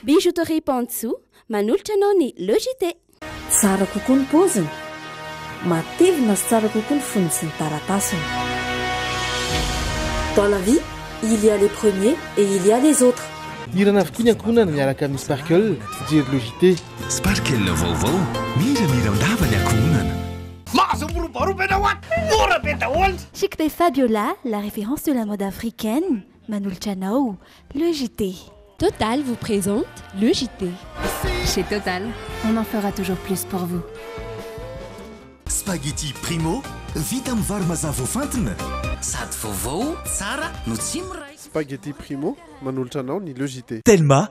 Bijouterie Pantsu manolotra anao ny Le JT. Tsara kokoa ny paoziny. Matevina sy tsara kokoa ny fonony sy ny taratasiny. Dans la vie, il y a les premiers et il y a les autres. Hira navokoa ny ankohonana miaraka amin'ny Sparkle, fijery Le JT. Sparkle vaovao, miramiran-dava ny ankohonana. Mahazo miroboroba ianao an! Mora be daholo! Chic de Fabiola, la référence de la mode africaine, manolotra anao le JT. Total vous présente le JT. Chez Total, on en fera toujours plus pour vous. Spaghetti Primo, vita amin'ny vary mazà voafantina. Sady vaovao, tsara no tsy miray. Spaghetti Primo, manolotra anao ny le JT. Telma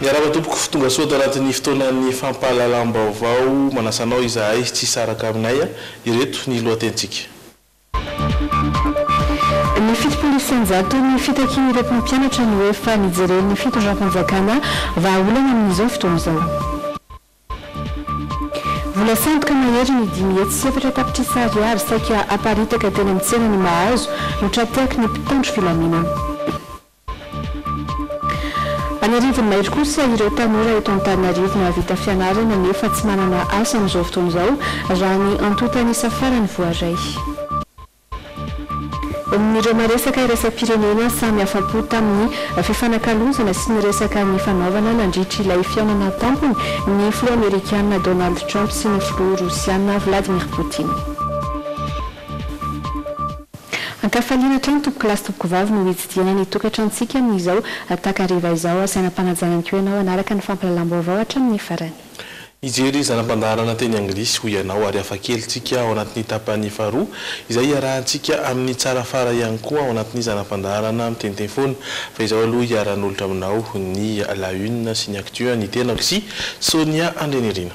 Miarahaba tompoko fo tonga soa ato anatin'ny fotoanan'ny fampahalalam-baovao manasa anao izahay tsy hisaraka aminay a! ireto ny lohatenintsika. Ny fitopolo isanjato ny fitakian'ireo mpampianatra no efa nijeren'ny fitondram-panjakana vahaolana amin'izao fotoana izao. Vola sandoka mahery ny dimy hetsy sy efatra tapitrisa ariary saika haparitaka teny amin'ny tsenan'i Mahazo no tra-tehaky ny mpitandro filaminana. An'arivony mahery kosa ireo tanora eto Antananarivo nahavita fianarana nefa tsy manana asa amin'izao fotoana izao, raha ny antontan'isa farany voaray. Amin'ireo maresaka iraisam-pirenena, samy afa-po tamin'ny fifanakalozana sy ny resaka nifanaovana nandritra ilay fihaonana tampony ny filoha amerikana Donald Trump sy ny filoha rosiana Vladimir Poutine. An-kafaliana hatrany tompoko lahy sy tompoko vavy no hitsidihana ny tokantranontsika amin'izao takariva izao. Asaina ampanajana ihany koa ianao hanaraka ny fampahalalam-baovao hatramin'ny farany. Hijery zana-pandaharana teny anglisy hoy ianao ary hafa kely tsika ao anatin'ny tapany faharoa izay hiarahantsika amin'ny tsara fara ihany koa ao anatin'ny zana-pandaharana miteniteny foana. Fa izao aloha hiara-hanolotra aminao ny La Une sy ny Actu ny tenako sy Sonia Andrianirina.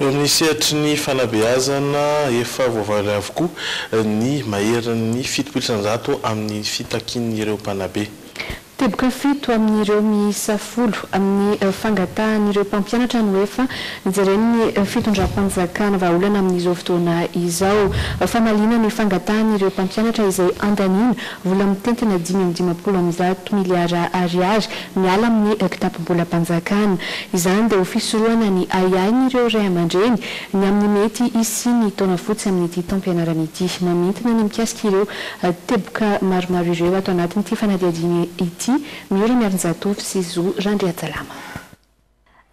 Eo amin'ny sehatry ny fanabeazana, efa voavaly avokoa ny maherin'ny fitopolo isanjato amin'ny fitakian'ireo mpanabe. Teboka fito amin'ireo miisa folo amin'ny fangatahan'ireo mpampianatra no efa nojeren'ny fitondram-panjakana vahaolana amin'izao fotoana izao. Famaliana ny fangatahan'ireo mpampianatra izay andaniana vola mitentina dimy amby dimampolo amin'ny zato miliara ariary miala amin'ny kitapom-bolam-panjakana. Izany dia ho fisorohana ny ahiahin'ireo ray aman-dreny ny amin'ny mety hisian'ny taona fotsy amin'ity taom-pianarana ity. Mamintina ny mikasika ireo teboka maromaro ireo ato anatin'ity fanadihadiana ity Miora Miarinjatovo sy Zo Randriajalama.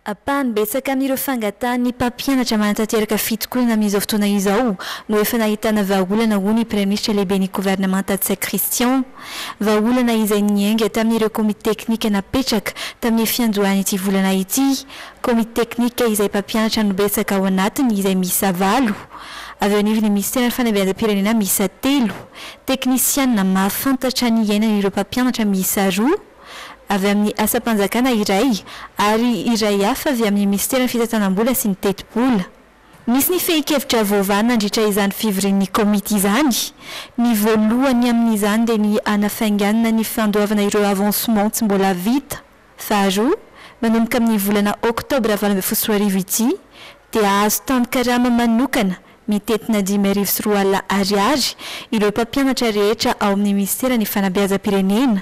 Ampahany betsaka amin'ireo fangatahan'ny mpampianatra manatanteraka fitokonana amin'izao fotoana izao no efa nahitana vahaolana hoy ny Praiminisitra Lehiben'ny Governemanta Tsay Christian. Vahaolana izay niainga tamin'ireo komity teknika napetraka tamin'ny fiandohan'ity volana ity, komity teknika izay mpampianatra no betsaka ao anatiny izay miisa valo, avy eo anivon'ny Minisiteran'ny Fanabeazam-pirenena miisa telo, teknisianina mahafantatra ny iainan'ireo mpampianatra miisa roa, avy amin'ny asam-panjakana iray ary iray hafa avy amin'ny minisiteran'ny fitantanam-bola sy ny tetibola. Nisy ny fehin-kevitra voavaha nandritra izany fivorian'ny komity izany. Ny voalohany amin'izany dia ny hanafainganana ny fandoavana ireo avancement tsy mbola vita. Faharoa, manomboka amin'ny volana oktobra valo ambin'ny folo sy roa arivo ity dia hahazo tanin-karama manokana mitentina dimy arivo sy roa alina ariary ireo mpampianatra rehetra ao amin'ny minisiteran'ny fanabeazam-pirenena,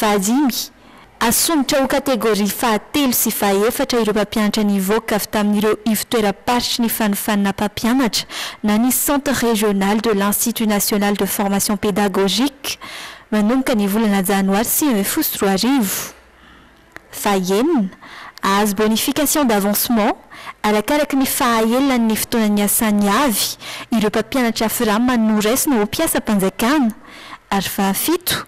Vahadimy, Asondrotra ho kategoria fahatelo sy fahaefatra ireo mpampianatra nivoaka avy tamin'ireo ivo-toeram-paritry ny fanofanana mpampianatra na ny Centre Régional de l'Institut National de Formation Pédagogique manomboka ny volana janoary sivy ambin'ny folo sy roa arivo. Fahenina, Ahazo bonification d'avancement arakaraky ny fahaelan' ny fotoana niasany avy ireo mpampianatra Fram noraisina ho mpiasam-panjakana, ary fahafito,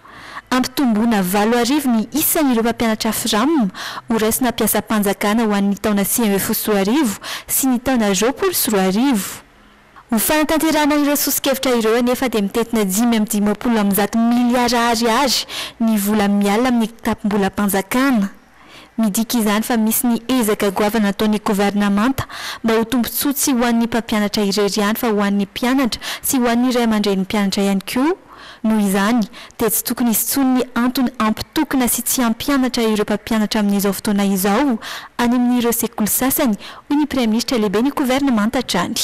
Ampitomboina valo arivo ny isan' ireo mpampianatra Fram horaisina mpiasam-panjakana ho an' ny taona sivy ambin'ny folo sy roa arivo sy ny taona roapolo sy roa arivo. Ho fanatanterahana ireo soso-kevitra ireo anefa dia mitentina dimy amby dimampolo amby zato miliara ariary ny vola miala amin'ny kitapom-bolam-panjakana. Midika izany fa misy ny ezaka goavana ataon'ny governemanta mba ho tombontsoa tsy ho an'ny mpampianatra irery ihany fa ho an'ny mpianatra sy ho an'ny ray aman-drenim-pianatra ihany koa, Noho izany, dia tsy tokony hisy intsony ny antony hampitokona sy tsy hampianatra ireo mpampianatra amin'izao fotoana izao any amin'ireo sekoly sasany, hoy ny Praiminisitra Lehiben'ny Governemanta hatrany.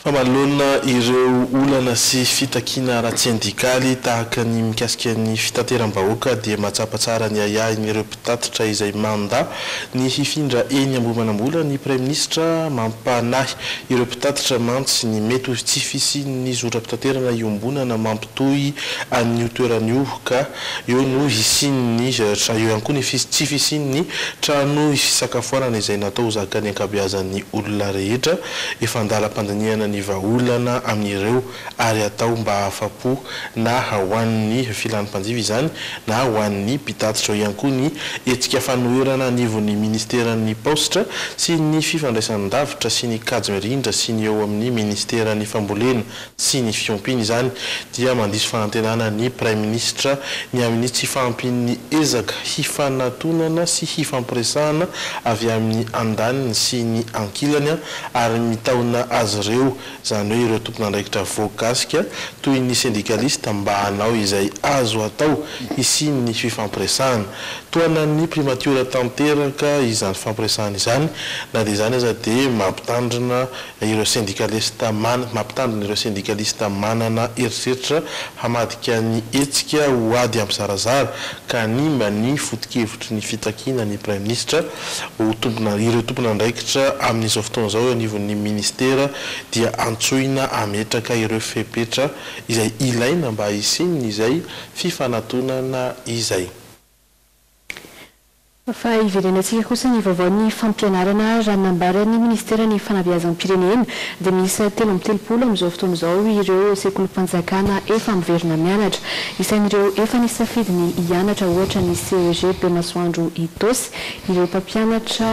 Fa manoloana ireo olana sy fitakiana ara-tsendikaly tahaka ny mikasika ny fitateram-bahoaka dia mahatsapa tsara ny ahiahin'ireo Tatitra izay manda ny hifindra eny Ambohimanambola ny Praiminisitra mampanahy ireo mpitatitra mantsy ny mety ho tsy fisian'ny zotram-pitaterana iombonana mampitohy an'io toerana io ka eo no hisian'ny eo ihany koa ny tsy fisian'ny trano fisakafoanana izay natao ho zakan'ny ankabeazan'ny olona rehetra efa an-dalam-pandinihana ny vahaolana amin'ireo ary atao mba hahafa-po na ho an'ny filan'ny mpanjifa izany na ho an'ny mpitatitra ao ihany koa ny hetsika fanoherana anivon'ny Ministeran'ny Paositra sy ny Fifandraisan-davitra sy ny Kajy Mirindra sy ny eo amin'ny Ministeran'ny Fambolena sy ny Fiompiana izany dia mandiso fahantenana ny Praiminisitra ny amin'ny tsy fahampian'ny ezaka hifanatonana sy hifampiresahana avy amin'ny andaniny sy ny ankilany ary mitaona azy ireo izany hoe ireo tompon'andraikitra voakasika toy ny sendikalista mba hanao izay azo atao hisian'ny fifampiresahana. Tohanan'ny primatiora tanteraka izany fifampiresahana izany, na dia izany aza dia mampitandrina ireo sendikalista man mampitandrina ireo sendikalista manana eritreritra hamadika ny hetsika ho ady hampizarazara ka hanimba ny foto-kevitry ny fitakiana ny Praiminisitra ho tompona, ireo tompon'andraikitra amin'izao fotoana izao eo anivon'ny Ministera dia antsoina hametraka ireo fepetra izay ilaina mba hisian'izay fifanatonana izay. Fa hiverenantsika kosa ny vaovaon'ny fampianarana raha nambaran'ny Ministeran'ny Fanabeazam-pirenena dia miisa telo amby telopolo amin'izao fotoana izao ireo sekolim-panjakana efa miverina mianatra. Isan'ireo efa nisafidy ny hianatra ohatra ny CEG Bemasoandro Itaosy ireo mpampianatra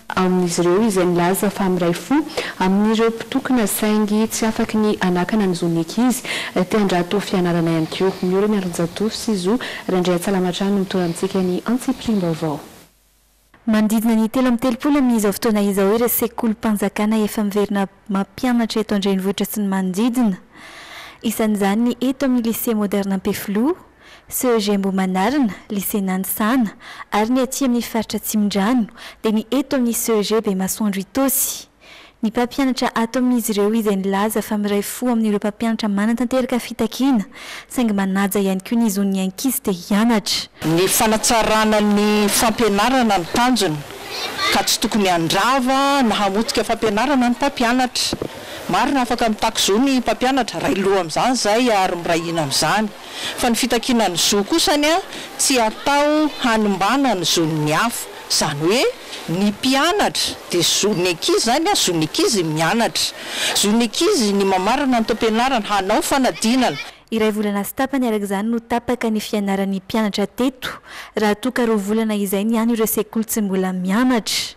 amin'izy ireo izay nilaza fa miray fo amin'ireo mpitokona saingy tsy afaky ny hanakana ny zon'ny ankizy te handrato fianarana ihany koa. Mihory ny Andronjatovo sy Zo Randriantsalama hatrany no mitondra amintsika ny antsipiriam-baovao. Manodidina ny telo amby telopolo amin'izao fotoana izao ireo sekolim-panjakana efa miverina mampianatra eto an-drenivohitra sy ny manodidina. Isan'izany ny eto amin'ny Lycée Moderne Ampefiloha, CEG Ambohimanarina, Lycée Nanisana, ary ny aty amin'ny faritra Atsimondrano dia ny eto amin'ny CEG Bemasoandro Itaosy. Ny mpampianatra ato amin'izy ireo izay nilaza fa miray fo amin'ireo mpampianatra manatanteraka fitakiana saingy manaja ihany koa ny zon'ny ankizy te hianatra. Ny fanatsarana ny fampianarana no tanjona ka tsy tokony handrava na hamotika fampianarana ny mpampianatra. Marina fa afaka mitaky zo ny mpampianatra, ray loha amin'izany izay ary miray hina amin'izany. Fa ny fitakiana ny zo kosa anie tsy atao hanimbana ny zon'ny hafa. Izany hoe. Ny mpianatra dia zon'ny ankizy izany a, zon'ny ankizy ny mianatra. Zon'ny ankizy ny mamarana ny taom-pianarana, hanao fanadinana. Iray volana sy tapany araka izany no tapaka ny fianaran'ny mpianatra teto, raha toa ka roa volana izay ny an'ireo sekoly tsy mbola mianatra.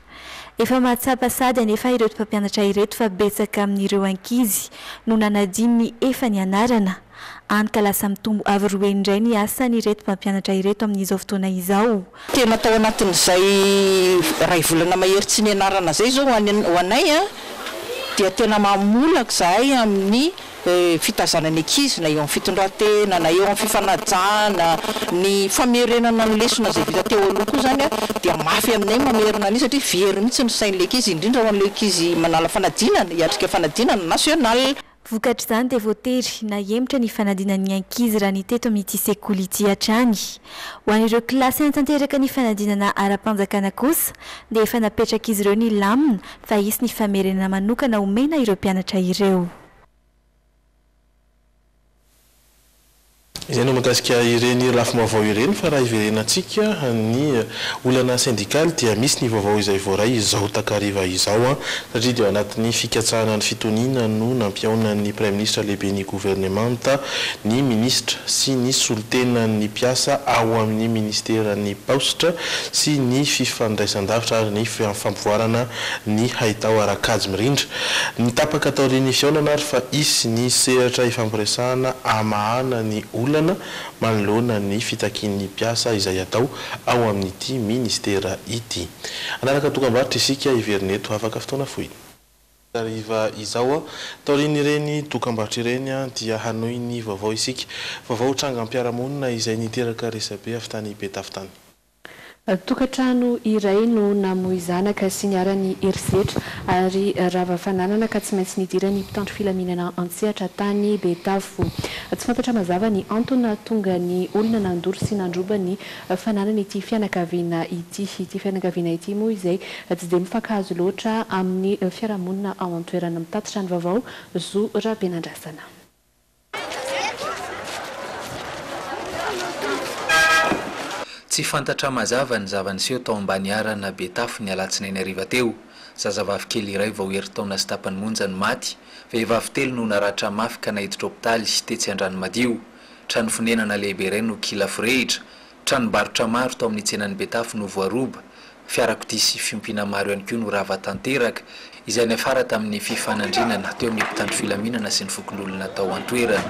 Efa mahatsapa sady anefa ireto mpampianatra ireto fa betsaka amin'ireo ankizy no nanadino ny efa nianarana. Hany ka lasa mitombo avo roa heny indray ny asan'ireto mpampianatra ireto amin'izao fotoana izao. Tena tao anatin'izay iray volana mahery tsy nianarana izay izao ho anay dia tena mamolaka izahay amin'ny fitaizana ny ankizy na eo amin'ny fitondran-tena na eo amin'ny fifanajana, ny famerenana ny lesona izay vita teo aloha koa izany dia mafy aminay mamerina an'io satria very mihintsy ny sain'ilay ankizy indrindra ho an'ilay ankizy manala fanadinana, hiatrika fanadinana nasionaly. Vokatr'izany dia voatery nahemotra ny fanadinan'ny ankizy raha ny teto amin'ity sekoly ity hatrany. Ho an'ireo kilasy hanatanteraka ny fanadinana ara-panjakana kosa dia efa napetrak'izy ireo ny lamina fa hisy ny famerenana manokana omena ireo mpianatra ireo. Izay no mahakasika ireny lafim-baovao ireny fa raha hiverenantsika ny olana sendikaly dia misy ny vaovao izay voaray izao takariva izao satria dia ao anatin'ny fikatsahana ny fitoniana no nampihaonan'ny Praiminisitra Lehiben'ny Governemanta ny Minisitra sy ny solontenan'ny mpiasa ao amin'ny Ministeran'ny Paositra sy ny Fifandraisandavitra ary ny Fampivoarana ny haitao ara-kajy mirindra. Nitapaka taorian'ny fihaonana ary fa hisy ny sehatra hifampiresahana hamahana ny olana manoloana ny fitakian'ny mpiasa izay hatao ao amin'ity minisitera ity. Hanaraka dokam-barotra isika heverina eto afaka fotoana fohy. Hariva izao, taorian'ireny dokam-barotra ireny dia hanohy ny vaovao isika. Vaovao trangam-piarahamonina izay niteraka resabe avy tany Betafo tany. Tokantrano iray no namoy zanaka sy niharan'ny herisetra ary rava fananana ka tsy maintsy nidiran'ny mpitandro filaminana an-tsehatra tany Betafo. Tsy fantatra mazava ny antony nahatonga ny olona nandoro sy nandroba ny fananan'ity fianakaviana ity. Ity fianakaviana ity moa izay tsy dia mifankahazo loatra amin'ny fiarahamonina ao an-toerana. Mitatitra ny vaovao Zo Rabenandrasana. Tsy fantatra mazava ny zava-niseho tao Ambaniharana Betafo ny alatsinainy hariva teo. Zazavavy kely iray vao herintaona sy tapany monja no maty, vehivavy telo no naratra mafy ka naiditra hopitaly tetsy Andranomadio. Trano fonenana lehibe iray no kila forehitra, Tranombarotra maro tao amin'ny tsenan'i Betafo no voaroba, fiarakodia sy fiompiana maro ihany koa no rava tanteraka, izay niafara tamin'ny fifanandrinana teo amin'ny mpitandro filaminana sy ny fokonolona tao an-toerana.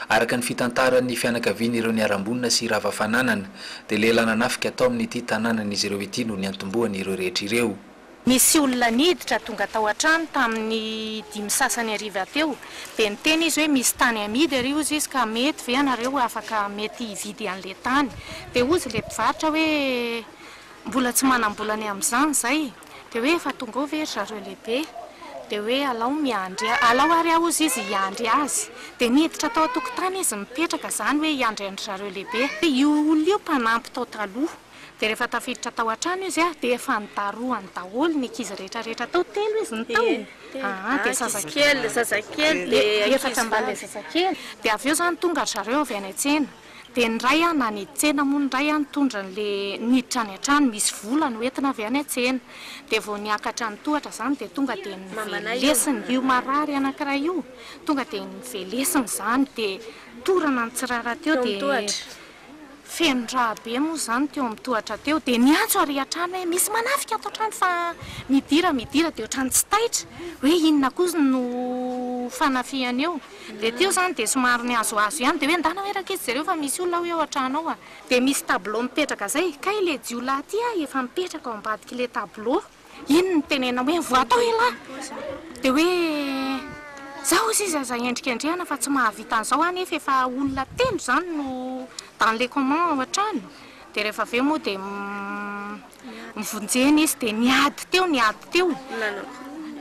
Araka ny fitantaran'ny fianakavian'ireo niharam-bonina sy rava fananana, dia lehilahy nanafika tao amin'ity tanànan'izy ireo ity no niantombohany ireo rehetra ireo. Nisy olona niditra tonga tao an-trano tamin'ny dimy sasany hariva teo, dia niteny izy hoe misy tany amidy ary hozy izy ka mety ve ianareo afaka mety hividy an'ilay tany? Dia hozy ilay mpivarotra hoe mbola tsy manam-bola ny amin'izany izay. Dia hoe efa tonga ao ve ry zareo lehibe? Dia hoe alao miandry ahy, alao ary ahozy izy hiandry azy. Dia niditra tao an-tokotany izy mipetraka, izany hoe hiandry an-dry zareo lehibe. Io olona io mpanampy tao taloha. Dia rehefa tafiditra tao an-trano izy dia efa nidarohany daholo ny ankizy rehetra rehetra tao, telo izy ny taony aa, dia zazakely, zazakely, dia efatra ambalilay zazakely. Dia avy eo izany tonga ry zareo avy any an-tsena. Dia ny iray an, any tsena moa ny iray an, nitondra an'ilay niditra any an-trano, misy vola no entina avy any an-tsena. Dia vao niakatra ny tohatra izany dia tonga dia novelesiny io marary anankiray io, tonga dia novelesiny izany dia torana nitsirara teo dia feno rà be moa izany teo amin'ny tohatra teo dia niantso ary an-trano hoe misy manafika ato an-trano fa midira midira dia ohatran'ny tsy taitra hoe inona kosa no fanafihana eo. Dia teo izany dia somary nihazohazo ihany dia hoe ndana hoe raketsy jereo fa misy olona hoy ao an-trano ao a! Dia misy tableau mipetraka izay, kay ilay jiolahy ity a efa mipetraka ao ambadik'ilay tableau, iny no nitenenina hoe voa tao elah! Dia hoe zao hozy izy aza endrikendrehana fa tsy mahavita an'izao a nefa efa olona telo izany no dans les comment ao an-trano, dia rehefa avy eo moa dia Nivonjena izy dia niady teo niady teo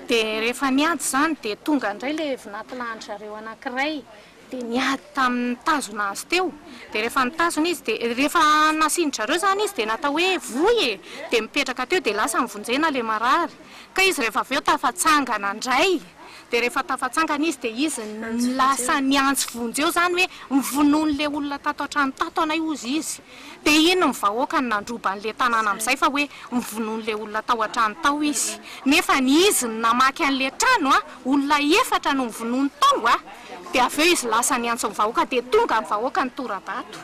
dia rehefa niady izany dia tonga indray ilay vinantilahin-dry zareo anankiray dia niady tamin'ny nitazona azy teo dia rehefa nitazona izy dia rehefa nasian-dry zareo izany izy dia natao hoe voy e! dia mipetraka teo dia lasa nivonjena ilay marary ka izy rehefa avy eo tafatsangana indray dia rehefa tafatsangana izy dia izy no lasa niantso vonjeo izany hoe mivonoan'ilay olona tato an-trano tato anay hozy izy. Dia iny ny vahoaka no nandroba an'ilay tanàna amin'izay fa hoe novonoin'ilay olona tao an-trano tao izy. Nefa ny izy no namaky an'ilay trano a! Olona efatra no novonoiny tao a! Dia avy eo izy lasa niantso ny vahoaka dia tonga ny vahoaka nitora-bato.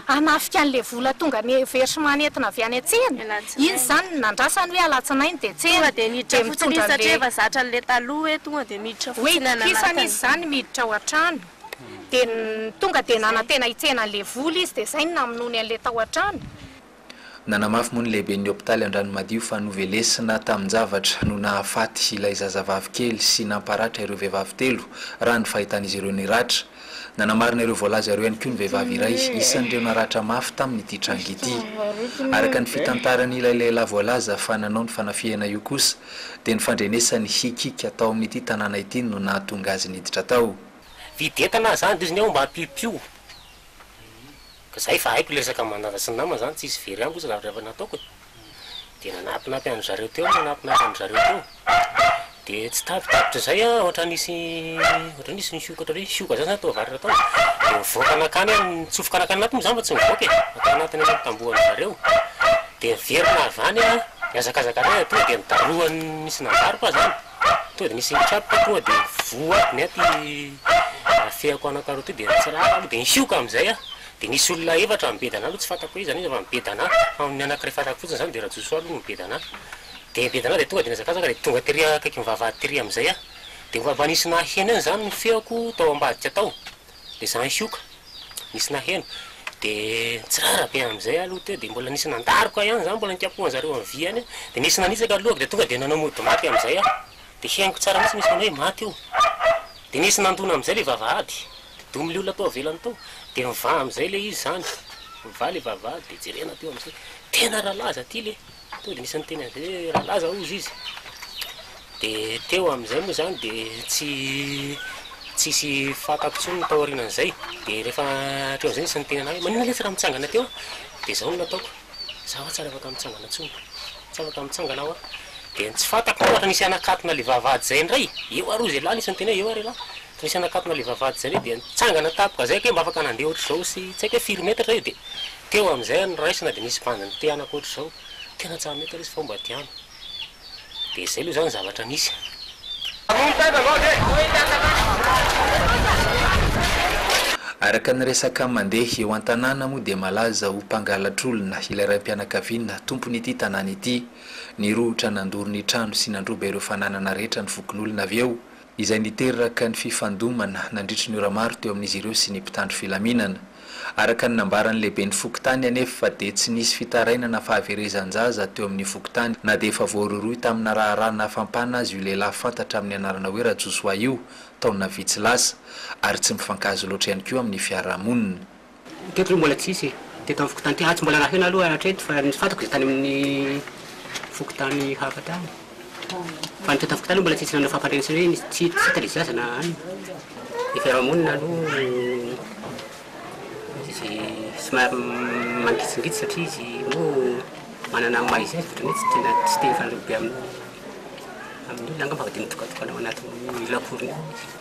Hanafika an'ilay vola tonga niversement nentina avy any an-tsena. Iny izany no nandrasany hoe alatsinainy dia tsena. Dia mitondra an'ilay. Hoe itokisany izy izany miditra ao an-trano. dia tonga dia nanantena hitsena an'ilay vola izy dia izay no namonoany an'ilay tao an-trano. Nanamafy moa ny lehiben'ny hopitaly Andranomadio fa novelesina tamin-javatra no nahafaty ilay zazavavy kely sy namparatra ireo vehivavy telo raha ny fahitan'izy ireo ny ratra. Nanamarina ireo voalaza ireo ihany koa ny vehivavy iray isan'ireo naratra mafy tamin'ity tranga ity. Araka ny fitantaran'ilay lehilahy voalaza fa nanao ny fanafihana io kosa, dia ny fandrenesany hikiaka tao amin'ity tanàna ity no nahatonga azy niditra tao. Vidy entana aho zany de izy ny aho mba piopio ka zay efa haiko le resaka manadra sy ny namana zany tsisy very amiko zany zavatra efa nataoko e de nanampinampy any zareo teo nanampinampy any zareo teo de tsy tapitapitra zay an ohatra nisy ohatra nisy nisioka ohatra hoe sioka zany zany toa varatra tao de nivoaka nakany aho nitsofoka nakany anaty moa zany fa tsy mivoaka e atao anatiny any tamboho any zareo Dia niverina avy any aho, nihazakazaka indray atoa dia nidarohan'ny nisy nanjary koa izany, tonga dia nisy nitsatoka tonga dia voako ny aty afehako anankiroa ity dia nitsirara aloha dia nisioka amin'izay aho, dia nisy olona efatra nibedana ahy aloha tsy fantako hoe iza an'iza fa nibedana ahy, fa ny anankiray fantako fotsiny izany dia Rajojoa aloha no nibedana ahy, dia nibedana ahy dia tonga dia nihazakazaka dia tonga tery akaikin'ny vavahady tery amin'izay aho, dia mba nisy naheno eo izany ny feoko tao ambadika tao. Dia izany koa ka. Nisy naheno. Dia nitsirara be amin'izay aho aloha teo, dia mbola nisy nandaroka ihany izany, mbola nikapohan'ny zareo amin'ny vy ihany aho. Dia nisy nanitsaka ny lohako, dia tonga dia nanao mody maty amin'izay aho. Dia henoko tsara mihitsy nisy manao hoe maty io. Dia nisy nandona amin'izay ilay vavahady. Dia domin'ny leolona tao ivelany tao. Dia mivaha amin'izay ilay izy izany. Mivaha ilay vavahady, dia jerena teo amin'izay. Tena rahalahy aza ity ilay. Tonga dia nisy niteny an'izay hoe rahalahy izao hozy izy, dia teo amin'izay moa izany dia tsy tsisy fantako intsony ny tao aorianan'izay, dia rehefa teo amin'izay nisy niteny an'ahy hoe maninona letsy raha mitsangana teo aho, dia izao no nataoko, za hoa tsy ary afaka mitsangana intsony, tsy afaka mitsangana aho an, dia ny tsy fantako ohatra nisy hanakatona ilay vavahady izay indray, eo ary hozy ialahy nisy niteny hoe eo ary ialahy, Nisy hanakatona ilay vavahady izay ve dia nitsangana tampoka izay kay mba afaka nandeha ohatr'izao sy tsy haiko hoe firy metatra io dia teo amin'izay no niraisina dia nisy bandy nitehanako ohatr'izao tena tsy ampy metatra izy fa omba diam dia izay aloha izany ny zavatra nisy. Araka ny resaka mandeha eo an-tanàna moa dia malaza ho mpangalatr'olona ilay raim-pianakaviana tompon'ity tanàna ity. Nirohotra nandoro ny trano sy nandroba ireo fananana rehetra ny fokonolona avy eo izay niteraka ny fifandomana nandritry ny ora maro teo amin'izy ireo sy ny mpitandro filaminana. Araka ny nambaran'ny lehiben'ny fokontany anefa dia tsy nisy fitarainana fahaverezan-jaza teo amin'ny fokontany na dia efa voarohirohy tamina raharaha nafampana azy io lehilahy fantatra amin'ny anarana hoe Rajosoa io taona vitsy lasa ary tsy mifankahazo loatra ihany koa amin'ny fiarahamonina. Teto aloha mbola tsisy e, teto amin'ny fokontany ity, atsy mbola naheno aloha hatreto fa ny fantako dia tany amin'ny fokontany hafa tany, fa ny teto amin'ny fokontany aloha mbola tsisy nanao fampandrenesana hoe misy tsy hita ilay zaza na any, ny fiarahamonina aloha izy somary mangitsingitsy satria izy moa manana ny maha izy azy ohatran'ny hoe tsy tena tsy te hifanareo be amin'ny olona angamba fa dia mitokatokana ao anatin'ny lakorony ao izy.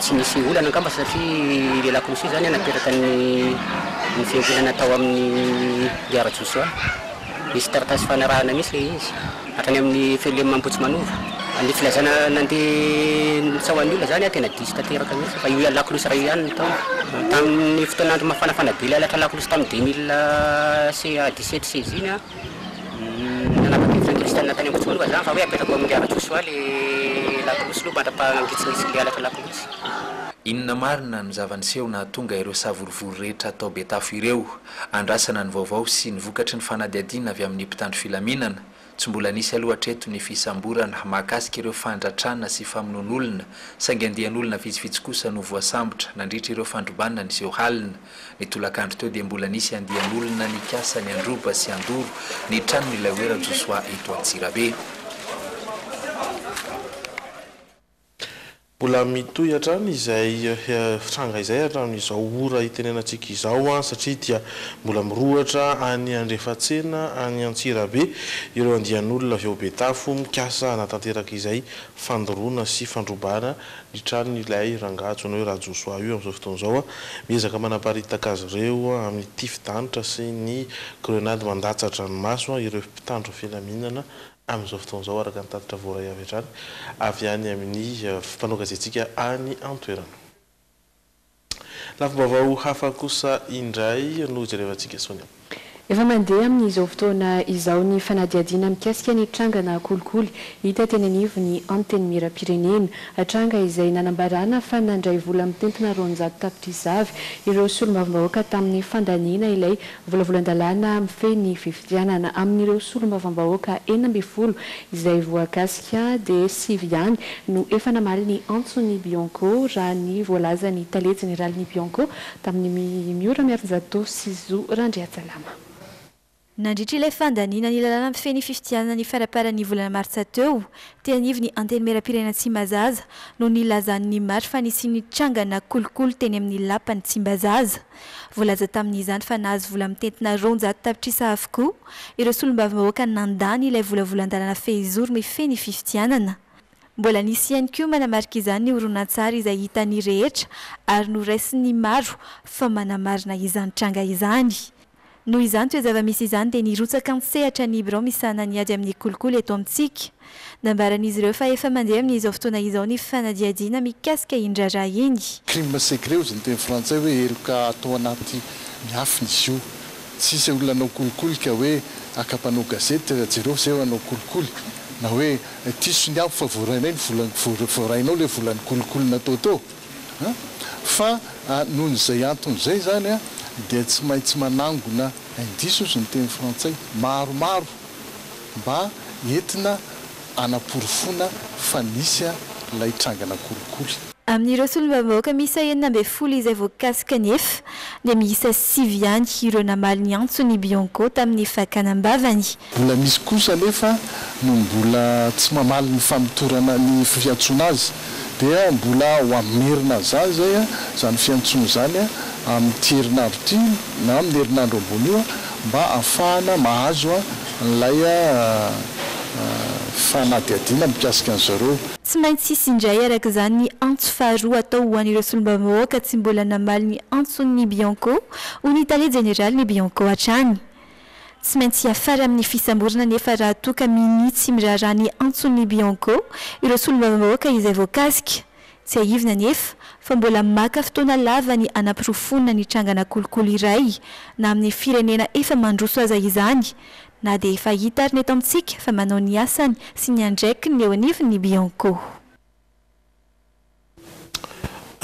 Tsy nisy olana angamba satria i Lehilahy Kosy izany nateraka ny ny fiankinana tao amin'i Mpiara Josoa. Nisy taratasy fanarahana mihitsy ilay izy hatrany amin'ny Felem Ambohitsimanova. Ny filazana nandeha nitsaoha ny olona izany an, tena diso tanteraka mihitsy fa io lakolosy iray io ihany no tao. Tamin'ny fotoan'andro mafanafana be ilay halatra lakolosy tamin'ny deux mille sy dix-sept sy seize iny an, Nanampy ny fenitra externe tany Ambohijatovo aloha zany fa hoe apetrako amin'i Miara Joshua le lakolosy aloha mandra-paha ngitsingitsin'le halatra lakolosy. Inona marina no zava-niseho nahatonga ireo savorovoro rehetra tao Betafo ireo? Andrasana ny vaovao sy ny vokatry ny fanadihadiana avy amin'ny mpitandro filaminana. Tsy mbola nisy aloha hatreto ny fisamborana mahakasika ireo fandratrana sy famonoan'olona saingy andian'olona vitsivitsy kosa no voasambotra nandritra ireo fandrobana niseho halina Ny tolakandro teo dia mbola nisy andian'olona nikasa ny handroba sy handoro ny tranon'ilay hoe Rajosoa eto Antsirabe. Mbola mitohy hatrany izay tranga izay hatramin'izao ora itenenantsika izao satria dia mbola mirohotra any Andrefatsena any Antsirabe ireo andian'olona avy ao Betafo mikasa hanatanteraka izay fandoroana sy fandrobana ny tranon' ilay rangahy antsoina hoe Rajosoa io amin' izao fotoana izao. Miezaka manaparitaka azy ireo amin' ny tifi-danitra sy ny grenady mandatsa-dranomaso ireo mpitandro filaminana amin' izao fotoana izao, araka ny tatitra voaray avy hatrany avy any amin' ny mpanao gazetintsika any an-toerana. Lafim-baovao hafa kosa indray no jerevantsika Sonia. Efa mandeha amin'izao fotoana izao ny fanadihadiana mikasika ny trangana kolikoly hita teny anivon'ny Antenimierampirenena. Tranga izay nanambarana fa nandray vola mitentina roanjato tapitrisa Ar ireo solombavambahoaka tamin'ny fandaniana ilay Volavolan-dalàna mifehy ny fifidianana. Amin'ireo solombavambahoaka enina ambin'ny folo izay voakasika dia sivy ihany no efa namaly ny antson'ny Bianco, raha ny voalazan'ny tale jeneralin'ny Bianco tamin'ny ny Miora Miarinjato sy Zo Randriatsalama. Nandritra ilay fandaniana ny lalàna mifehy ny fifidianana ny faraparan'ny volana martsa teo, teny anivon'ny Antenimierampirenena Tsimbazaza no nilazan'ny Mari fa nisy nitrangana kolikoly teny amin'ny Lapan'i Tsimbazaza. Voalaza tamin'izany fa nahazo vola mitentina roanjato tapitrisa avokoa ireo solombavambahoaka nandany ilay volavolan-dalàna fehizoro mifehy ny fifidianana. Mbola nisy ihany koa manamarika izany ny horonantsary izay hitan'ny rehetra ary noraisin'ny maro fa manamarina izany tranga izany. Noho izany toe-java-misy izany dia nirotsaka an-tsehatra ny birao misahana ny ady amin'ny kolikoly eto amintsika. Nambaran'izy ireo fa efa mandeha amin'izao fotoana izao ny fanadihadiana mikasika iny raharaha iny. Crime secret ozy ny teny frantsay hoe heloka atao anaty ny afina izy io. Tsy hisy olona hanao kolikoly ka hoe haka mpanao gazety jereo zay hanao kolikoly na hoe diso ny avo fa voarainay ny volan'ny voarainao ilay volan'ny kolikoly natao teo. Fa noho izay antony izay izany dia tsy maintsy manangona indices hozy ny teny frantsay maromaro mba entina hanaporofoana fa nisy ilay trangana kolikoly. Amin'ireo solombavambahoaka miisa enina ambin'ny folo izay voakasika anefa dia miisa sivy ihany ireo namaly ny antson'ny Bionco tamin'ny fakana am-bavany Mbola misy kosa anefa no mbola tsy mamaly ny famotorana ny fiantsoana azy dia mbola ho amin'ny merina azany izay izany fiantsoana izany amin'ity herinandro ity na amin'ny herinandro ambony io mba hahafahana mahazo an'ilay fanadihadiana mikasika an'izy ireo. Tsy maintsy hisy indray araka izany ny antso faharoa atao ho an'ireo solombavambahoaka tsy mbola namaly ny antson'ny Bianco, hoy ny tale jeneralin'ny Bianco hatrany. Tsy maintsy hiafara amin'ny fisamborana anefa raha toa ka minia tsy miraharaha ny antson'ny Bianco ireo solombavambahoaka izay voakasika. Tsiahivina anefa fa mbola maka fotoana lava ny hanaporofoana ny trangana kolikoly iray na amin'ny firenena efa mandroso aza izany na dia efa hita ary ny eto amintsika fa manao ny asany sy ny andraikiny eo anivon'ny Bianco.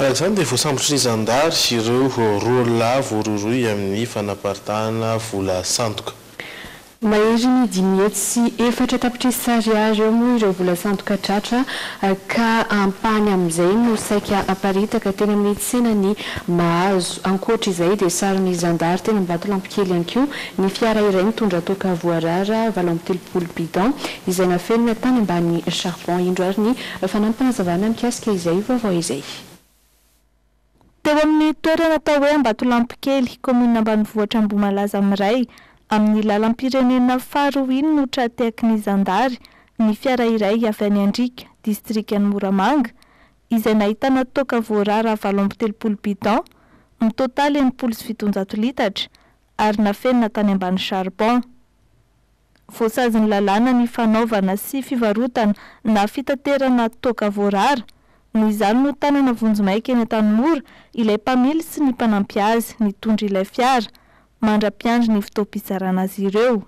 Araka izany dia voasambotry ny zandary ireo roa lahy voarohirohy amin'ny fanaparitahana vola sandoka. Mahery ny dimy hetsy sy efatra tapitrisa ariary eo moa ireo vola sandoka tratra ka ampahany amin'izay no saika haparitaka teny amin'ny tsenan'i Mahazo. Ankoatra izay dia saron'ny zandary teny Ambatolampikely ihany koa ny fiara iray mitondra toaka voarara valo amby telopolo bidon izay nafenina tany ambany charbon indro ary ny Fanampy fanazavana mikasika izay ho vaovao izay. Teo amin'ny toerana atao hoe Ambatolampikely, kaominina ambanivohitra Ambohimalaza miray amin'ny lalam-pirenena faharoa iny no tra-tehaky ny zandary ny fiara iray avy any Andriaka, distrikan'i Moramanga, izay nahitana toaka voarara valo amby telopolo bidon, mitotaly enimpolo sy fitonjato litatra, ary nafenina tany ambany charbon. Voasazy ny lalàna ny fanaovana sy fivarotana na fitaterana toaka voarara. Noho izany no tanana vonjimaika eny Antanimora ilay mpamily sy ny mpanampy azy nitondra ilay fiara, mandra-piandry ny fotoam-pizarana azy ireo.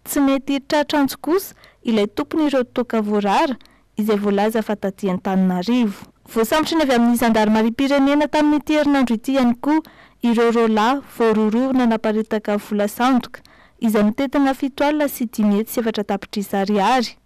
Tsy mety tratra antso kosa ilay tompon'ireo toaka voarara izay voalaza fa taty Antananarivo. Voasambotry ny avy amin'ny zandarimariam-pirenena tamin'ity herinandro ity ihany koa ireo roa lahy voarohirohina naparitaka vola sandoka izay mitentina fito alina sy dimy hetsy sy efatra tapitrisa ariary.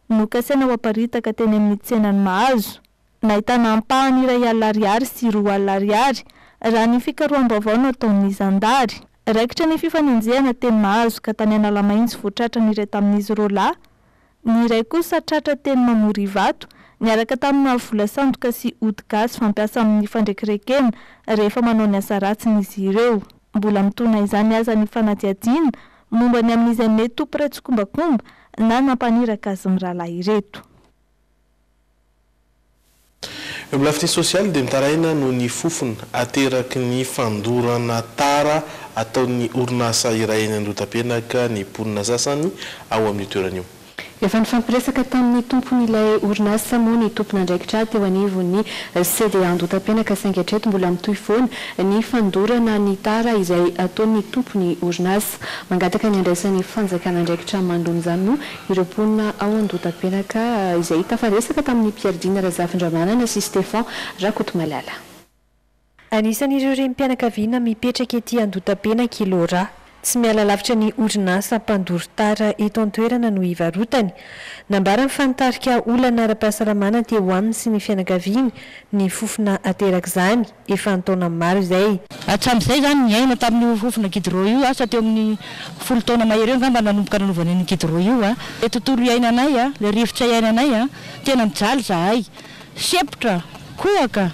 Nokasaina ho aparitaka teny amin'ny tsenan'i Mahazo. Nahitana ampahany iray alina ariary sy roa alina ariary, raha ny fikaroham-baovao nataon'ny zandary. Raikitra ny fifanenjehana teny Mahazo ka tany Analamaintso vao tratra ny iray tamin'izy roa lahy. Ny iray kosa tratra teny Mamorivato, niaraka taminà vola sandoka sy ody gasy fampiasa amin'ny fandrekirekena rehefa manao ny asa ratsiny izy ireo. Mbola mitona izany aza ny fanadihadiana momba ny amin'izay mety ho mpiray tsikombakomba na nampaniraka azy mirahalahy ireto. Eo amin'ny lafiny sosialy dia mitaraina noho ny fofona ateraky ny fandorana tara ataon'ny orinasa iray eny Andohatapenaka ny mponina sasany ao amin'io toerana io. Efa nifampiresaka tamin'ny tompon'ilay orinasa moa ny tompon'andraikitra teo anivon'ny CDA Andohatapenaka saingy hatreto mbola mitohy foana ny fandorana ny tara izay ataon'ny tompon'ny orinasa. Mangataka ny handraisan'ny fanjakana andraikitra mandona izany moa Ireo mponina ao Andohatapenaka izay tafaresaka tamin'ny mpiadiana Razafindramanana sy Stefan Rakotomalala. Anisan'ireo renim-pianakaviana mipetraka ety Andohatapenaka i Laura. Tsy miala lavitra ny orinasa mpandoro tara eto an-toerana no ivarotany. Nambarany fa nitarika olana ara-pahasalamana teo aminy sy ny fianakaviany ny fofona aterak'izany. efa an-taona maro izay. Hatramin'izay izany niaina tamin'io fofona gidro io asa teo amin'ny folo taona mahery eo angamba nanomboka nanaovana an'io gidro io. Ilay tontolo iainanay, ilay rivotra iainanay, tena mijaly izahay. Sempotra, kohaka,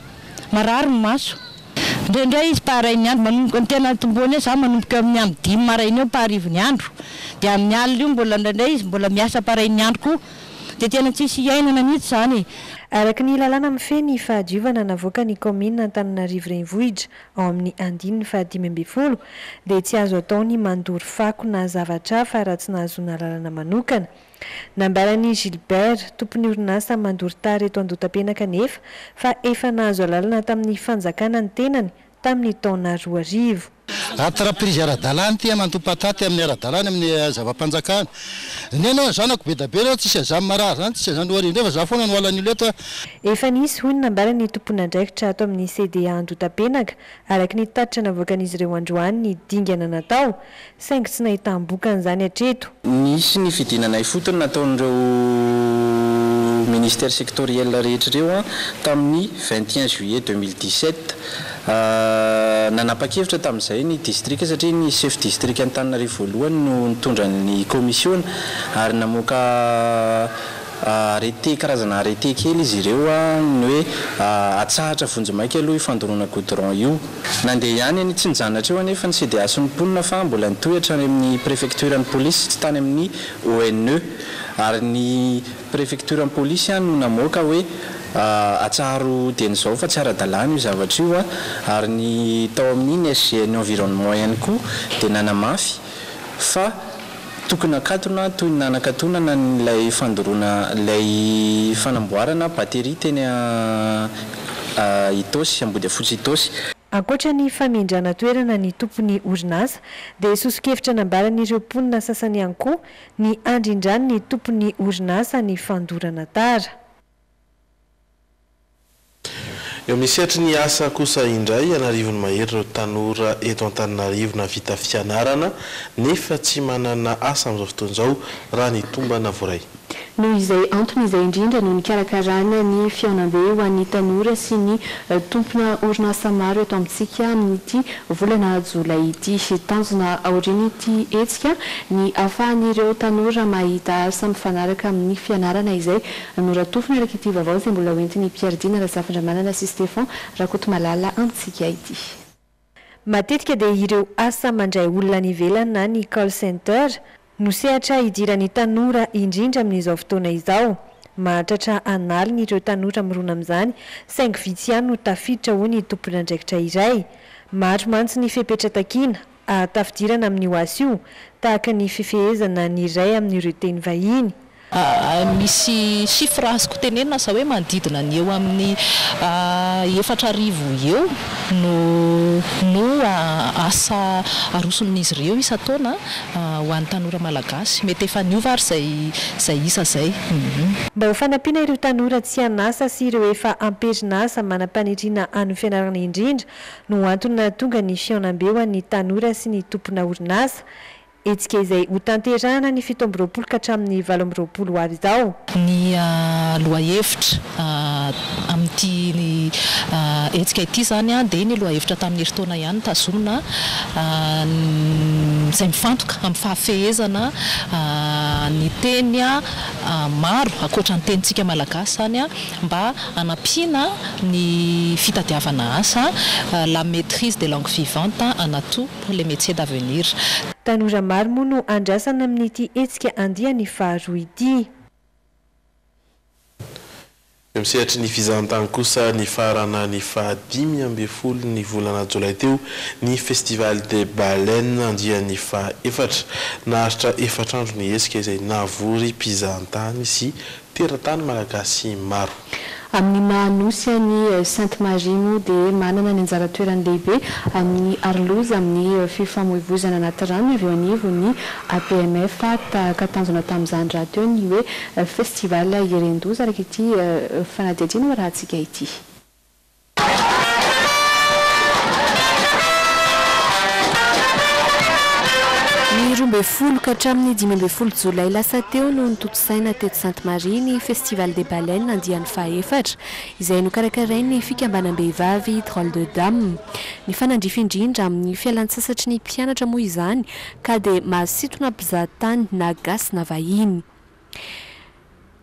marary ny maso. Indraindray izy paray ny andro, manomboka ny tena tomboany eo izaho manomboka eo amin'ny amin'ny dimy maraina eo paharivo ny andro. Dia amin'ny alina io mbola indraindray izy mbola miasa paray ny andro koa. Dia tena tsisy hiainana mihitsy izany e! Araka ny lalàna mifehy ny fahadiovana navoakan'ny kaominina Antananarivo Renivohitra ao amin'ny andininy fahadimy ambin'ny folo dia tsy azo atao ny mandoro fako na zavatra hafa raha tsy nahazoana alalana manokana. Nambaran'i Gilbert, tompon'ny orinasa mandoro tara eto Andotapenaka anefa fa efa nahazo alalana tamin'ny fanjakana ny tenany tamin'ny taona roa arivo. Aty raha prise ara-dalàna ity amandoha patate amin'ny ara-dalàna amin'ny zava-panjakana. Ny anao ny zanako be da be reo tsisy azany marary zany tsisy azany ory indreo fa za foana no ala an'io leto a. Efa nisy hoy ny nambara ny tompon'andraikitra ato amin'ny CDA Andohatapenaka, araka ny tatitra navoakan'izy ireo androany ny dingana natao, saingy tsy nahitam-bokany izany hatreto. Nisy ny fidinana ifotony nataon'ireo Ministères sectoriels rehetra ireo tamin'ny vingt et un juillet deux mille dix-sept. Nanapa-kevitra tamin'izay ny Distrika satria ny Sefo Distrikan'Antananarivo voalohany no nitondra ny Kaomisiona ary namoaka Arrêté, karazana arrêté kely izy ireo, ny hoe atsahatra vonjimaika aloha io fandoroana goudron io. Nandeha ihany eny Tsinjanatra eo anefa ny CDH sy ny mponina fa mbola nitohy hatrany amin'ny prefektioran'ny polisy sy tany amin'ny ONE. Ary ny prefektioran'ny polisy no namoaka hoe atsaharo dieny izao fa tsy ara-dalàna io zavatra io. Ary ny tao amin'ny ny SGENI environnement ihany koa dia nanamafy fa. Tokony hakatona toy ny nanakatonana an'ilay fandoroana ilay fanamboarana batterie teny Itaosy, Ambodiafotsy Itaosy. Ankoatra ny famindrana toerana ny tompon'ny orinasa dia soso-kevitra nambaran'ireo mponina sasany ihany koa ny handrindran'ny tompon'ny orinasa ny fandorana tara. Eo amin'ny sehatry ny asa kosa indray, an'arivony mahery ireo tanora eto Antananarivo nahavita fianarana nefa tsy manana asa amin'izao fotoana izao, raha ny tombana voaray. Noho izay antony izay indrindra no nikarakarana ny fihaonambe ho an'ny tanora sy ny tompona orinasa maro eto amintsika amin'ity volana jolay ity. Tanjona aorian'ity hetsika ny ahafahan'ireo tanora mahita asa mifanaraka amin'ny fianarana izay Noratofiny araka ity vaovao izay mbola hoentin'i Pierre Dina Razafindramanana sy Stefan Rakotomalala amintsika ity. Matetika dia ireo asa mandray olona any ivelany na ny call center no sehatra hidiran'ny tanora indrindra amin'izao fotoana izao. Mahatratra an'aliny ireo tanora mirona amin'izany saingy vitsy ihany no tafiditra hoy ny tomponandraikitra iray. Maro mantsy ny fepetra takiana Ahatafidirana amin'io asa io, tahaka ny fifehezana ny iray amin'ireo teny vahiny. Misy chiffres azoko tenenina aza hoe manodidina ny eo amin'ny efatra arivo eo no no asa aroson'izy ireo isan-taona ho an'ny tanora malagasy. Mety efa niova ary izay izay isa izay. Mba ho fanampiana ireo tanora tsy an'asa sy ireo efa am-perinasa manam-paniriana hanao fianarana indrindra no antony nahatonga ny fihaonambe ho an'ny tanora sy ny tompona orinasa, hetsika izay hotanterahana ny fito amby roapolo ka hatramin'ny valo amby roapolo ho avy izao. Ny lohahevitra amin'ity hetsika ity izany dia ny lohahevitra tamin'ny herintaona ihany tazomina izay mifantoka amin'ny fahafehezana ny teny maro ankoatra ny tenintsika malagasy izany. mba hanampiana ny fitadiavana asa, la maitrise des langues vivantes an'Atoa pour les métiers d'avenir. Tanora maro moa no andrasana amin'ity hetsika andiany faharoa ity. Eo amin'ny sehatry ny fizahantany kosa, nifarana ny faha dimy ambin'ny folo ny volana jolay teo ny Festival des Baleines andiany faha efatra. Naharitra efatra andro ny hetsika izay navory mpizahantany sy Teratany Malagasy maro. Amin'ny maha Nosy an'i Sainte Marie moa dia manana ny anjara toerany lehibe amin'ny Aroloza amin'ny fifamoivozana anaty rano avy eo anivon'ny APMF tahaka tanjona tamin'izany rahateo ny hoe Festival Iren-doza araka ity fanadihadiana hoarahantsika ity. Ny roa ambin'ny folo ka hatramin'ny dimy ambin'ny folo jolay lasa teo no notontosaina teto Sainte Marie ny Festival des Baleines andiany fahefatra, izay nokarakarain'ny fikambanam-behivavy Drôle de Dame. Nifanandrify indrindra amin'ny fialantsasatry ny mpianatra moa izany, ka dia mahasintona mpizahatany na gasy na vahiny.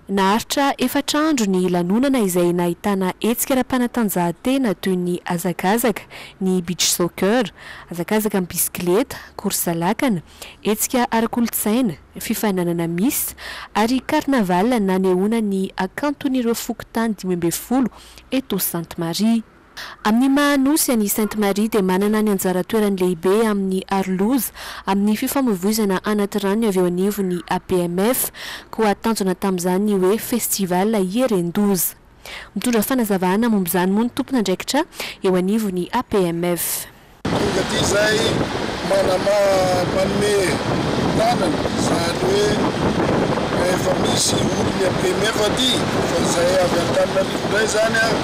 Naharitra efatra andro ny lanonana izay nahitana hetsika ara-panatanjahantena toy ny hazakazaka, ny beach soccer, hazakazaka amin'ny bisikileta, korsa lakana, hetsika ara-kolontsaina, fifaninanana miss ary carnaval nanehoana ny hakanton'ireo fokontany dimy ambin'ny folo eto Sainte Marie. Amin'ny maha Nosy an'i Sainte Marie dia manana ny anjara toerany lehibe amin'ny aroloza amin'ny fifamoivoizana anatirano ny avy eo anivon'ny APMF, koa tanjona tamin'izany ny hoe Festival Hieren-doza. Mitondra fanazavana momba izany moa ny tompon'andraikitra eo anivon'ny APMF. Tonga aty izay manamaha manome tanana izany hoe rehefa misy olon'ny APMF aty fa izay avy Antananarivo indray izany an,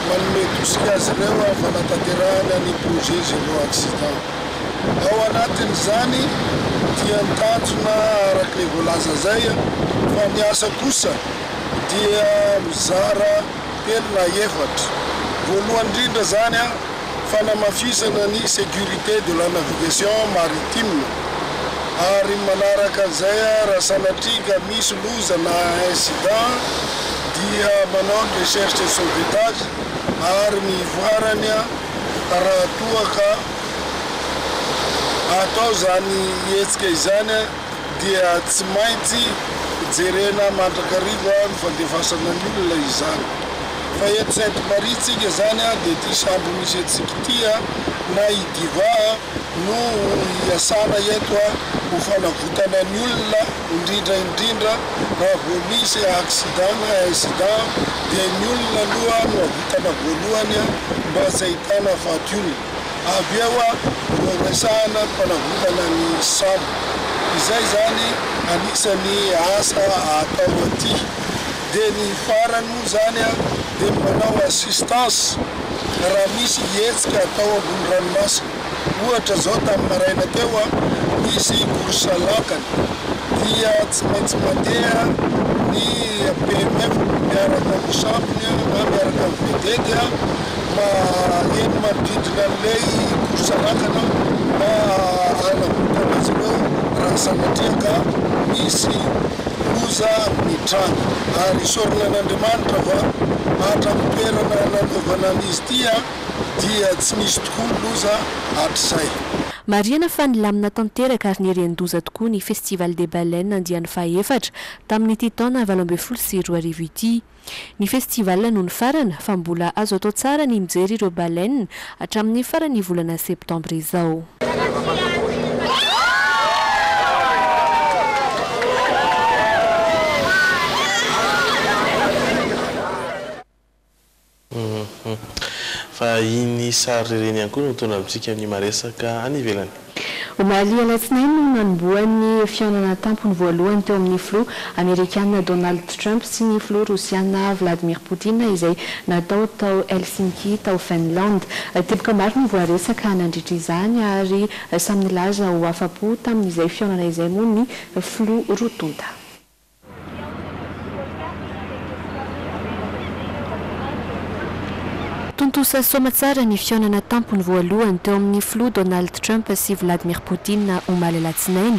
manome tosika azy ireo amin'ny fanatanterahana ny projet zéro accident. Ao anatin'izany dia ny tanjona araka ilay voalaza izay an, fa ny asa kosa dia mizara. telo na efatra. Voalohany indrindra izany, fanamafisana ny sécurité de la navigation maritime, ary manaraka an'izay raha sanatria ka misy loza na incident dia manao ny recherche et sauvetage ary ny ivoarany raha toa ka atao izany hetsika izany. dia tsy maintsy jerena mandrakariva ny fandefasana ny olona izany. Fa eto Sainte Marie tsika zany a dia ity sambo misy antsika ity a, na i Diva a, no iasana eto a, ho fanavotana ny olona, indrindra indrindra raha vao misy accident na incident dia ny olona aloha no avotana voalohany a, mba tsy ahitana faty olona. Avy eo no resahana ny fanavotana ny sambo. Izay izany anisan'ny asa atao aty. Dia ny farany moa izany dia ny manao assistance raha misy hetsika atao ambony ranomasina. Ohatra izao tamin'ny maraina teo nisy course lakana dia tsy maintsy mandeha ny PMF miaraka amin'ny sambony na miaraka amin'ny vedety Maheno manodidina an'ilay course lakana aho mba hanavotana azy ireo raha sanatria ka misy loza mitranga. Ary isaorana an'Andriamanitra fa hatramin'ny toerana nanaovana an'izy ity dia tsy nisy tokoa loza hatrizay. Marihana fa nilamina tanteraka ary nirian-doza tokoa ny Festival des Baleines andiany faha-efatra tamin'ity taona valo ambin'ny folo sy roa arivo ity. Ny festival no nifarana fa mbola azo atao tsara ny mijery ireo baleines hatramin'ny faran'ny volana septembre izao. Fa iny sary ireny ihany koa no mitondra amintsika ny maresaka any ivelany. Omaly alatsinainy no nanombohan'ny fihaonana an-tampony voalohany teo amin'ny filoha amerikana Donald Trump sy ny filoha rosiana Vladimir Poutine izay natao tao Helsinki tao Finland. Teboka maro no voaresaka nandritra izany ary samy nilaza ho afa-po tamin'izay fihaonana izay moa ny filoha roa tonta. Tontosa soamantsara ny fihaonana tampony voalohany teo amin'ny Filoha Donald Trump sy Vladimir Putin omaly alatsinainy,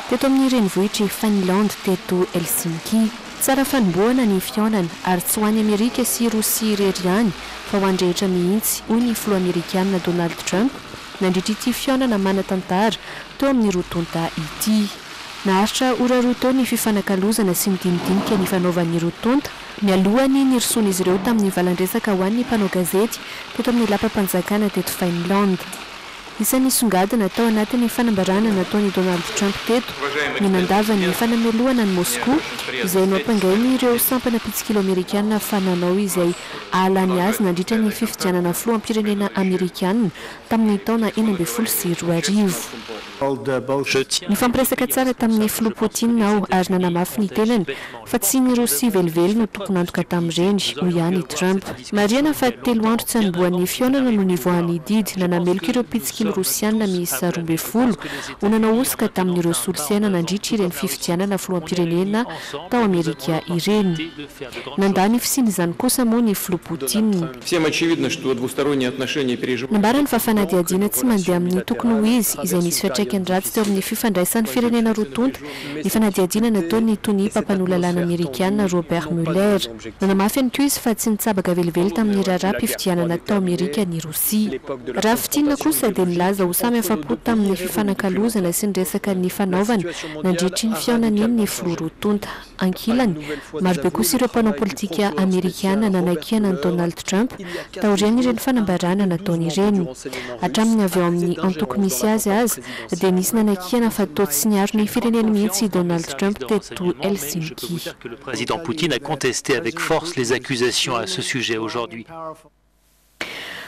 teto amin'ny renivohitr'i Finlande teto Helsinki. Tsara fanombohana ny fihaonana, ary tsy ho an'i Amerika sy Rosia irery ihany fa ho an'ny rehetra mihitsy, hoy ny Filoha Amerikana Donald Trump nandritra ity fihaonana manan-tantara teo amin'ny roa tonta ity. Naharitra ora roa teo ny fifanakalozana sy ny dinidinika nifanaovan'ny roa tonta, mialohan'ny nirosoan'izy ireo tamin'ny valan-dresaka ho an'ny mpanao gazety teto amin'ny lapam-panjakana teto Finland. Isan'ny nisongadina tao anatin'ny fanambarana nataon'i Donald Trump teto ny nandava ny fanamelohana an'i Moskoa, izay noampangain'ireo sampana mpitsikilo amerikana fa nanao izay hahalany azy nandritra ny fifidianana filoham-pirenena amerikana tamin'ny taona enina ambin'ny folo sy roa arivo. Nifampiresaka tsara tamin'ny Filoha Putin aho ary nanamafy ny tenany fa tsy ny Rosia velively no tompon'antoka tamin'ireny, hoy ihany i Trump. Marihana fa telo andro tsy hanombohan'ny fihaonana no nivoahan'ny didy nanameloka ireo mpitsikilo Rosiana miisa roa ambin'ny folo ho nanao hosoka tamin'ireo solosaina nandritra ireny fifidianana filoham-pirenena tao Amerika ireny. Nandà ny fisiany izany kosa moa ny filoha Poutine. Nambarany fa fanadihadiana tsy mandeha amin'ny tokony ho izy, izay nisy fiantraikany ratsy teo amin'ny fifandraisan'ny firenena roa tonta, ny fanadihadiana nataon'ny tonia mpampanoa lalàna Amerikana Robert Mueller. Nanamafy ihany koa izy fa tsy nitsabaka velively tamin'ny raharaham-pifidianana tao Amerika ny Rosia. Raha fintinina kosa dia nilaza ho samy afa-po tamin'ny fifanakalozana sy ny resaka nifanaovana nandritry ny fihaonany ny filoha roa tonta. Ankilany, marobe kosa ireo mpanao politika amerikana nanakiana an'i Donald Trump taorian'ireny fanambarana nataony ireny. Hatramin'ny avy ao amin'ny antoko misy azy aza dia nisy nanakiana fa toa tsy niaro ny fireneny mihitsy i Donald Trump teto Helsinki.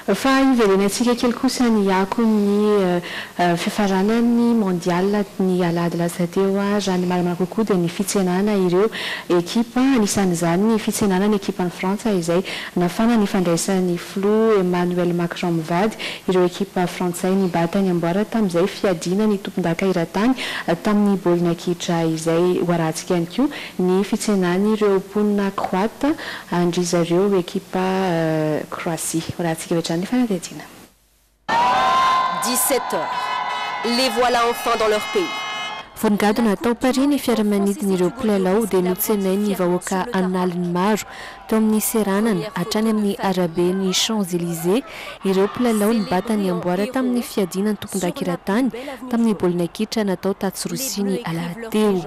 Fa hiverenantsika kely kosa ny akony ny fifaranan'ny Mondial ny alahady lasa teo. Raha ny marina kokoa dia ny fitsenana ireo ekipa, anisan'izany ny fitsenana ny ekipan'i Frantsa izay nafana ny fandraisan'ny filoha Emmanuel Macron mivady ireo ekipa frantsay nibata ny amboara tamin'izay fiadiana ny tompondaka eran-tany tamin'ny baolina kitra izay ho arahantsika ihany koa Ny fitsenan'ireo mponina Kroata an-dry zareo ekipa Kroasia. Ho lahatsika avy hatrany ny fanadihadiana. 17 heures, les voilà enfin dans leur pays! Vao nigadona tao Paris ny fiaramanidin'ireo mpilalao dia notsenain'ny vahoaka an'aliny maro Teo amin'ny seranana, hatrany amin'ny arabe ny Champs Elysées, ireo mpilalao nibata ny amboara tamin'ny fiadiana ny tompon-dakiratany tamin'ny baolina kitra natao tatsy Rosia ny alahady teo.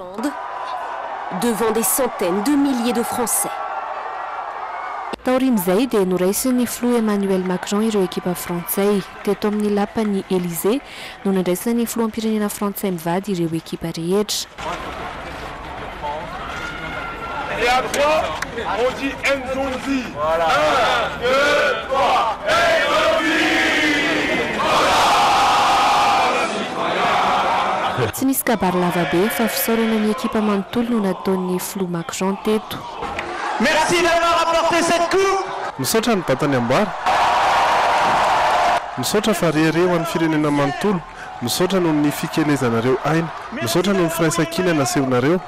Taorian'izay dia noraisin'ny filoha Emmanuel Macron ireo ekipa frantsay. Teto amin'ny lapan'ny Elysées, no nandraisan'ny filoham-pirenena frantsay mivady ireo ekipa rehetra. Tsy nisy kabary lava be fa fisaorana ny ekipa manontolo no nataon'ny filoha Macron teto. Merci d'avoir apporté cette coupe. Misaotra ny Bata niambara. Misaotra fa re re ho an'ny firenena manontolo. Misaotra noho ny fikelezanareo aina. Misaotra noho ny firaisankina nasehonareo.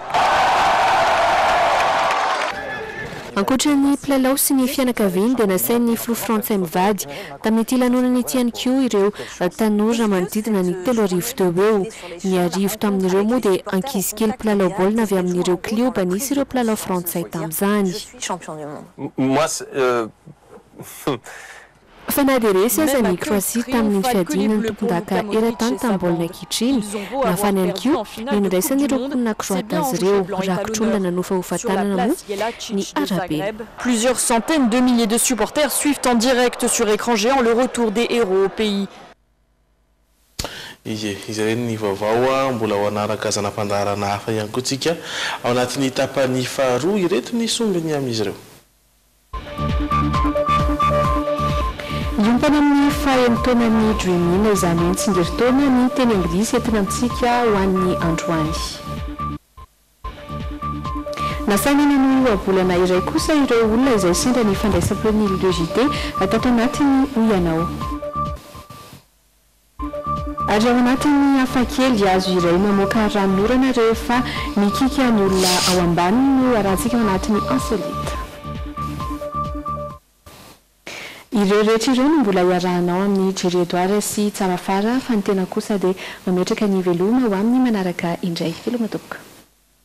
Ankoatra ny mpilalao sy ny fianakaviany dia nasain'ny filoha frantsay mivady Tamin'ity lanonana ity ihany koa ireo tanora manodidina ny telo arivo teo ho eo. Ny arivo tamin'ireo moa dia ankizy kely mpilalao baolina avy amin'ireo klioba nisy ireo mpilalao frantsay tamin'izany. Fa na dia resy aza an'i Kroasia tamin'iny fiadiana ny tompondaka eran-tany tamin'ny baolina kitra iny, nafana ihany koa ny nandraisan'ireo mponina kroata azy ireo. Rakotr'olona nanofahofa-tanana moa ny arabe. Plusieurs centaines de milliers de supporters suivent en direct sur écran géant le retour des héros au pays. Ie, izay re ny vaovao a! Mbola ho hanaraka zana-pandaharana hafa ihany koa tsika ao anatin'ny tapany faharoa. Ireto ny songony amin'izy ireo. Hiompana amin'ny faha-enin-taonan'ny Dream In izany hoe ny tsingerin-taona ny teny anglisy entina amintsika ho an'ny androany. Nasaina nanohy ohabolana iray kosa ireo olona izay sendra ny fandraisam-peon'ny Île de JT tato anatiny, hoy ianao. Ary ao anatin'ny hafakely hazo iray mamoaka ranon'orana rehefa mikiky an'ny olona ao ambaniny no arahantsika ao anatin'ny Insolite. Ireo rehetra ireo no mbola iarahanao amin'i Jerry Edouard sy Tsarafara fa ny tena kosa dia mametraka ny veloma ho amin'ny manaraka indray. Veloma tompoko.